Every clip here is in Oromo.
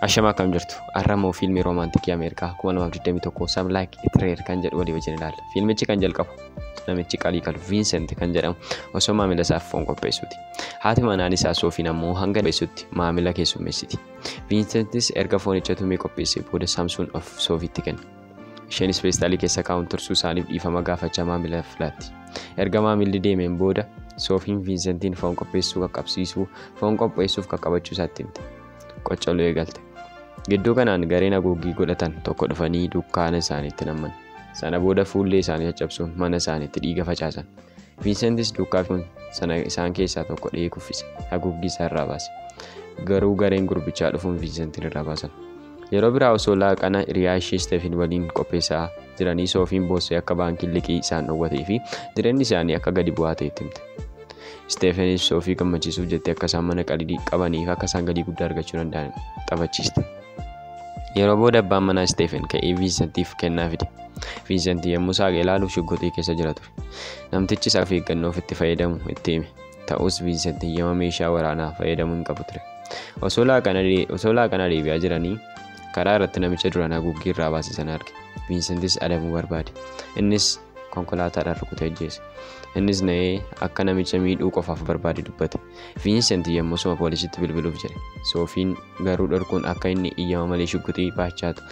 Ashamaa akkam jirtu har'amoo fiilmii roomaantikii Ameerikaa 2021 Sam Like It Rare kan jedhu walii wajjin ilaalla. Fiilmichi kan jalqabu namichi qalii kalu Viinsent kan jedhamu osoo maamila isaaf foon qopheessuuti. Haati manaan isaa Soofiin ammoo hanga dheessutti maamila keessummeessiti. Viinsentis erga foonicha tumee qopheessee booda Saamsuun of Soofiitti kenna. isheenis feestaalii keessa kaa'uun tursuu isaaniif dhiifama gaafachaa maamila filaatti. Erga maamilli deemeen booda Soofiin Viinsentiin foon qopheessuu qaqqabsiisuu foon qopheessuuf qaqqabachuu isaatti himte. Qoccoluu eegalte. Gidduu kanaan gareen haguuggii godhatan tokko dhufanii dukkaana isaaniitti namman. Sana booda fuullee isaanii caccabsuun mana isaaniitti dhiiga facaasan. Viinsentis duukaa kun sana isaan keessaa tokko dhihee kuffise. Haguuggii isaa irraa baase. Garuu gareen gurbichaa dhufuun Viinsentiin irraa baasan. Yeroo biraa osoo laaqana hiriyaa ishee Isteefiin waliin qopheessaa jiranii Soofiin boossee akka baankiin liqii isaan dhowwatee fi jireenyi isaanii akka gadi bu'aa ta'e itti himte. Isteefiinis Soofii gammachiisuuf jettee akka isaan mana qalidii qabanii fi akka isaan galii guddaa argachuu danda'an taphachiiste. Yeroo booda abbaan manaa Isteefiin ka'ee Viinsentiif kennaa fide. Viinsentii yommuu saaqe ilaaluuf shugguxii keessa jira ture. Namtichis of eeggannoof itti fayyadamu itti hime. Ta'us Viinsent hiyyama meeshaa waraanaa fayyadamuu hin qabu ture. Osoo laaqana deebi'aa jiranii karaa irratti namicha duraan haguuggii irraa baase sana arge. Viinsentis adabuu barbaade. Innis konkolaataadhaan rukutee ajjeese. Innis na'ee akka namicha miidhuu qofaaf barbaade dubbate. Viinsent yommusuma poolisitti bilbiluuf jedhe. Soofiin garuu dhorkuun akka inni iyyama malee shugguxii baachaatu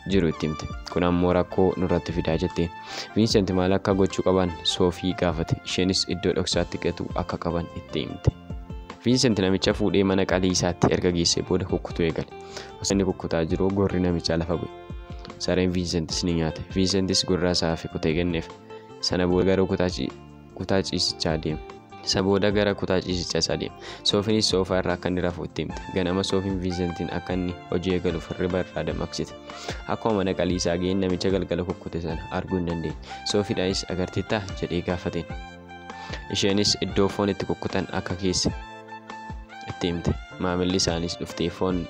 jiru itti himte. Kun ammoo rakkoo nurratti fidaa jette. Viinsent maal akka gochuu qaban Soofii gaafate. Isheenis iddoo dhoksaatti gatuu akka qaban itti himte. Viinsent namicha fuudhee mana qalii isaatti erga geessee booda kukkutuu eegale. Osoo inni kukkutaa jiru gorri namichaa lafa bu'e. Sareen Viinsentis ni nyaate. Viinsentis gorraa isaa hafe kutee kenneef. Sana booda garuu kutaa kutaa ciisichaa deema. Isa booda gara kutaa ciisichaa isaa deema. Soofiinis soofaa irraa akka inni rafu itti himte. Ganama Soofiin Viinsentiin akka inni hojii eegaluuf hirriba irraa dammaqsite. Akkuma mana qalii isaa ga'een namicha galgala kukkute sana arguu hin dandeenye. Soofiidhaanis agarteettaa jedhee gaafateen. Isheenis iddoo foon itti kukkutan akka keesse itti himte. Maamilli isaaniis dhuftee foon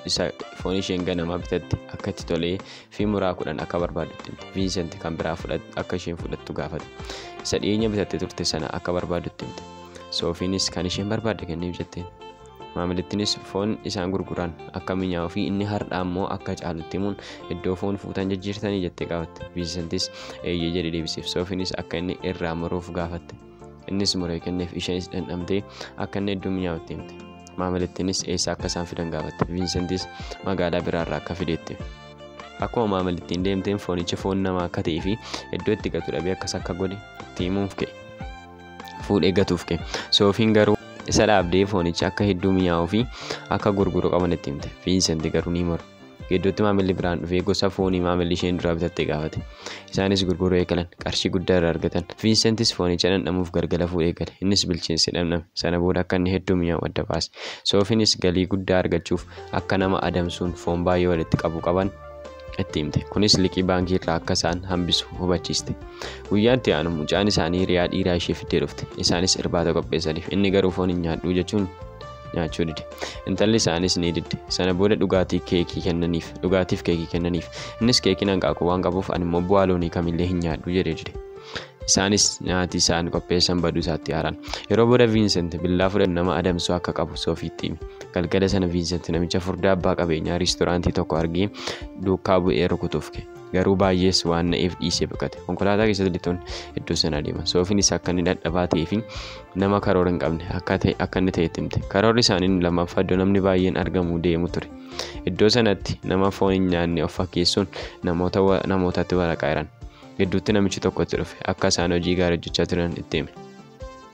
isheen ganamaa bitatte akka itti tolee fi muraa kudhan akka barbaaddutti himte. Viinsent kan biraa fudhat- akka isheen fudhattu gaafate. Isa dhiyeenya bitattee turte sana akka barbaaddutti himte. Soofiinis kan isheen barbaadde kenniif jetteen. Maamilittinis foon isaan gurguran akka minyaa'uu fi inni har'aa immoo akka caalutti himuun iddoo foon fuutan jijjiirtanii jettee gaafatte. Viinsentis eeyyee jedhee deebiseef. Soofiinis akka inni irraa muruuf gaafatte. Innis muree kenneef isheenis dhandhamtee akka inni hedduu mi'aawu itti himte. Maamilittiinis eessaa akka isaan fidan gaafatte. Viinsentis magaalaa biraarraa akka fideetti. Akkuma maamilittiin deemteen foonichi foon namaa akka ta'ee fi iddoo itti gatu dhabee akkas akka godhe itti himuuf ka'e. Fuudhee gatuuf ka'e. Soofiin garuu isa dhaabdee foonicha akka hedduu mi'aawuu fi akka gurguru qaban itti himte. Viinsenti garuu ni morme. Gidduutti maamilli biraan dhufee gosa foonii maamilli isheen duraa bitatte gaafate. Isaanis gurguruu eegalan. Qarshii guddaa irraa argatan. Viinsentis foonicha dhandhamuuf galgala fuudhee gale. Innis bilcheesse dhamdhame. Sana booda akka inni hedduu mi'aawu adda baase. Soofiinis galii guddaa argachuuf akka nama adamsuun foon baay'ee walitti qabu qaban itti himte. Kunis liqii baankii irraa akka isaan hambisu hubachiiste. Guyyaa itti aanu mucaan isaanii hiriyaa dhiiraa ishee fiddee dhufte. Isaanis irbaata qopheessaniif. Inni garuu foon hin nyaadhu jechuun nyaachuu dide intalli isaanis ni didde sana booda dhugaatii keekii kennaniif dhugaatiif keekii kennaniif innis keekiin hanqaaquu waan qabuuf ani immoo bu'aa loonii kamillee hin nyaadhu jedhee dide isaanis nyaati isaan qopheessan baduu isaatti haaran yeroo booda viinsent billaa fudhan nama adamsuu akka qabu soofiitti hime galgala sana viinsent namicha furdaa abbaa qabeenyaa riistoraantii tokko argee duukaa bu'ee rukutuuf ka'e garuu baay'ees waan na'eef dhiisee baqate konkolaataa keessatti lixuun iddoo sana adeeman soofiin isaa akka inni dadhabaa ta'ee fi nama karoora hin qabne akka ta'e akka inni ta'etti himte karoorri isaanii inni lammaffaa iddoo namni baay'een argamu deemu ture iddoo sanatti nama foon hin nyaanne of fakkeessuun namoota wa- namootatti waraqaa hiran gidduutti namichi tokkotti dhufe akka isaan hojii gaarii hojjechaa turan itti hime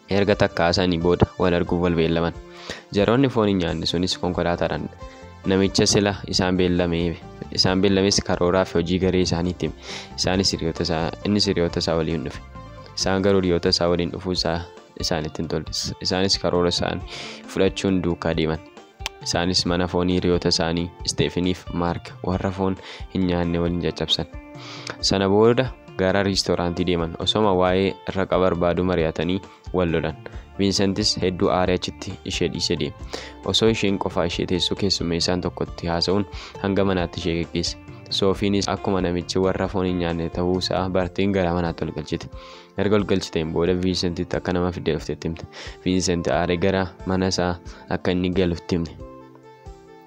Erga takka haasa'anii booda wal arguuf wal beellaman. Jaroonni foon hin nyaanne sunis konkolaataadhaan namicha sila isaan beellameef isaan beellames karooraa fi hojii garee isaaniitti hime. Isaanis hiriyoota isaa innis hiriyoota isaa waliin dhufe. Isaan garuu hiriyoota isaa waliin dhufuu isaa isaanitti hin tolle. Isaanis karoora isaanii fudhachuun duukaa deeman. Isaanis mana foonii hiriyoota isaanii Isteefiniif Maark warra foon hin nyaanne waliin caccabsan. Sana booda gara riistooraantii deeman. Osoma waa'ee raqa barbaaduu mari'atanii wal lolan. Viinsentis hedduu aaree achitti ishee dhiisee deeme. Osoo isheen qofaa ishee teessuu keessummeessaan tokkotti haasa'uun hanga manaatti ishee geggeesse. Soofiinis akkuma namichi warra foon hin nyaanne ta'uu isaa barteen gara manaatti ol galchite. erga ol galchiteen booda viinsentitti akka nama fidee dhufte itti himte viinsenti aaree gara mana isaa akka inni galu itti himte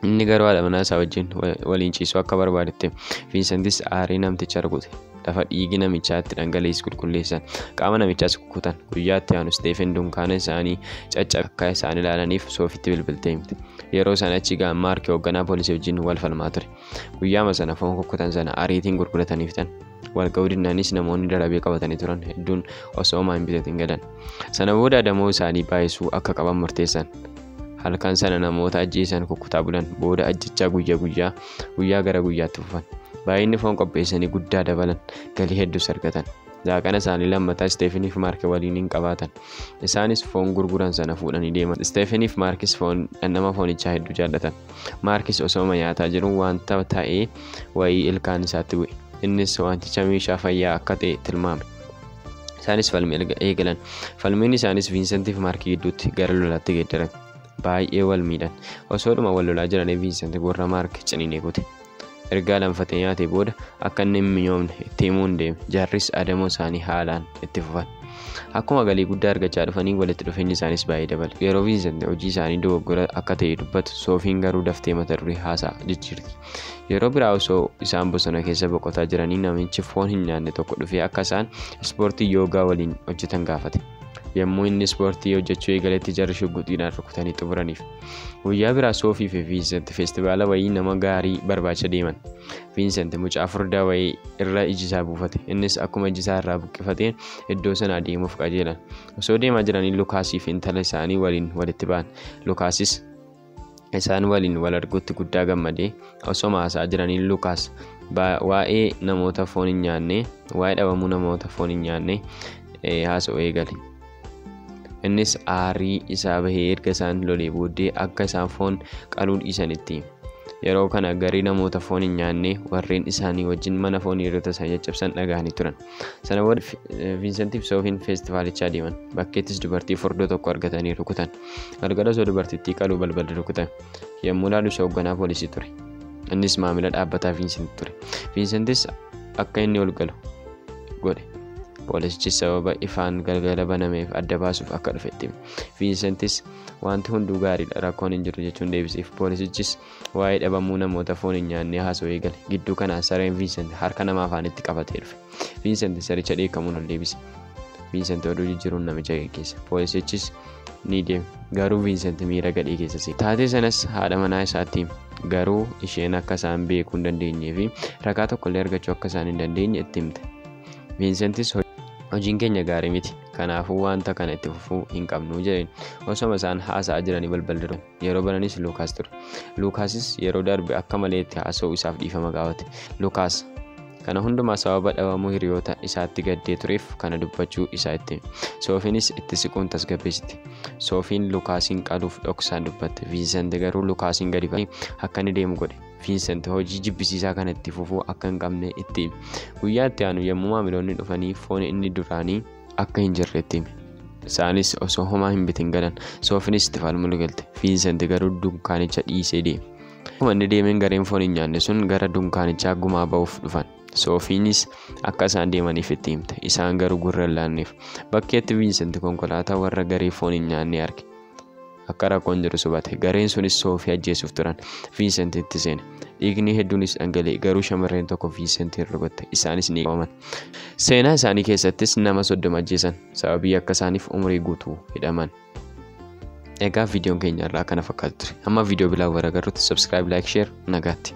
inni garuu haadha manaa isaa wajjin waliin ciisuu akka barbaadetti viinsentis aaree namticha rukute lafa dhiigi namichaa itti dhangala'es qulqulleessan qaama namichaas kukkutan guyyaatti aanu isteefen dunkaana isaanii caccabe akka isaan ilaalaniif soofitti bilbiltee himte yeroo sana achi ga'an maarki hoogganaa poolisii wajjin wal falmaa ture guyyaama sana foon kukkutan sana ariitiin gurgurataniif tan walqabdinaanis namoonni darabee qabatanii turan hedduun osoo homaa hin bitatin galan sana booda adamoo isaanii baay'isuu akka qaban murteessan halkan sana namoota ajjeesan kukkutaa bulan booda ajjechaa guyyaa guyyaa guyyaa gara guyyaatti fufan baay'inni foon qopheessanii guddaa dabalan galii hedduus argatan laaqana isaanii lammataa isteefiniif maarke waliin hin qabaatan Isaanis foon gurguran sana fuudhanii deeman. Isteefeniif Maarkis foon dhandhama foonichaa hedduu jaallatan. Maarkis osooma nyaataa jiru wanta ta'ee wayii ilkaan isaatti bu'e. Innis wanticha meeshaa fayyaa akka ta'e tilmaame. Isaanis falmii eegalan. Falmiin isaanis Viinsentiif Maarkii gidduutti gara lolaatti geeddarame. Baay'ee wal miidhan. Osoodhuma wal lolaa jiranii Viinsent gurra Maark ciniinee kute. Ergaa lanfaxe nyaatee booda akka inni hin minyoomne itti himuun deeme. Jarris adamoo isaanii haalaan itti fufan. Akkuma galii guddaa argachaa dhufanii walitti dhufeenyi isaaniis baay'ee dabale. Yeroo Viinsent hojii isaanii dogoggora akka ta'e dubbatu, Soofiin garuu daftee mata duree haasaa jijjiirti. Yeroo biraa osoo isaan bosona keessa boqotaa jiranii namichi foon hin nyaanne tokko dhufee akka isaan ispoortii yoogaa waliin hojjetan gaafate. Yommuu inni ispoortii hojjechuu eegaletti jarri shugguxiidhaan rukutanii xumuraniif. Guyyaa biraa Soofii fi Viinsent feestivaala wayii nama gaarii barbaacha deeman. Viinsent mucaa furdaa wayii irra iji isaa buufate. Innis akkuma iji isaa irraa buqqifateen iddoo sana adeemuuf qajeelan. Osoo deemaa jiranii Lukaasii fi intala isaanii waliin walitti ba'an. Lukaasis isaan waliin wal arguutti guddaa gammade. Osoma haasa'aa jiranii Lukaas waa'ee namoota foon hin nyaanne, waa'ee dhabamuu namoota foon hin nyaanne haasa'uu eegale. Innis aarii isaa bahee erga isaan lolee booddee akka isaan foon qaluu dhiisanitti. Yeroo kana garii namoota foon hin nyaanne warreen isaanii wajjin mana foon hiriyoota isaanii caccabsan dhaga'anii turan. Sana booda Viinsentiif Soofiin feestivaalichaa deeman. Bakkeettis dubartii furdoo tokko argatanii rukutan. Galgala osoo dubartittii qaluu balballi rukutan. Yommuu ilaalu isa hoogganaa poolisii ture. Innis maamila dhaabbataa Viinsent ture. Viinsentis akka inni ol galu godhe. Poolisichis sababa ifaan galgala banameef adda baasuuf akka dhufe itti hime. Viinsentis wanti hunduu gaariidha rakkoon hin jiru jechuun deebiseef. Poolisichis Waa'ee dhabamuu namoota foon hin nyaannee haasa'uu eegale. Gidduu kana sareen Viinsent harka nama afaanitti qabatee dhufe. Viinsent saricha dheekkamuun ol deebise. Viinsent oduu jijjiiruun namicha geggeesse. Poolisichis ni deeme. Garuu Viinsent miira gadhee keessa seene. Taatee sanas haadha manaa isaatti hime. Garuu isheen akka isaan beekuu hin dandeenyee fi ragaa tokkollee argachuu akka isaan hin dandeenye itti himte. Viinsentis hojiin keenya gaarii miti. Kanaafuu wanta kana itti fufuu hin qabnu jedheen. Osoma isaan haasa'aa jiranii balballi rukutame. Yeroo bananis Luukaas ture. Luukaasis yeroo darbe akka malee itti haasa'uu isaaf dhiifama gaafate. Luukaas kana hundumaa sababa dhabamuu hiriyoota isaatti gaddee tureef kana dubbachuu isaa itti hime. Soofiinis itti siquun tasgabbeessite. Soofiin Luukaasiin qaluuf dhoksaan dubbatte. Viinsent garuu Luukaasiin gadi ba'ee akka inni deemu godhe. Viinsent hojii jibbisiisaa kana itti fufuu akka hin qabne itti hime. Guyyaa itti aanu yommuu maamiloonni dhufanii foon inni duraanii akka hin jirre itti hime. Isaanis osoo homaa hin bitin galan. Soofinis itti falmuu galte. Viinsent garuu dunkaanicha dhiisee deeme. Akkuma inni deemeen gareen foon hin nyaanne sun gara dunkaanichaa gumaa ba'uuf dhufan. Soofiinis akka isaan deemaniif itti himte. Isaan garuu gurra hin laanneef. Bakkeetti Viinsent konkolaataa warra garee foon hin nyaannee arge. akka rakkoon jirus hubate gareen sunis soofii ajjeesuuf turan viinsentitti seene dhiigni hedduunis dhangala'e garuu shamarreen tokko viinsentiin rukutte isaanis ni qabaman seenaa isaanii keessattis nama soddoma ajjeesan sababii akka isaaniif umurii guutuu hidhaman egaa viidiyoon keenya irraa kana fakkaatu ture amma viidiyoo biraa waragarrutti subscribe like share nagaatti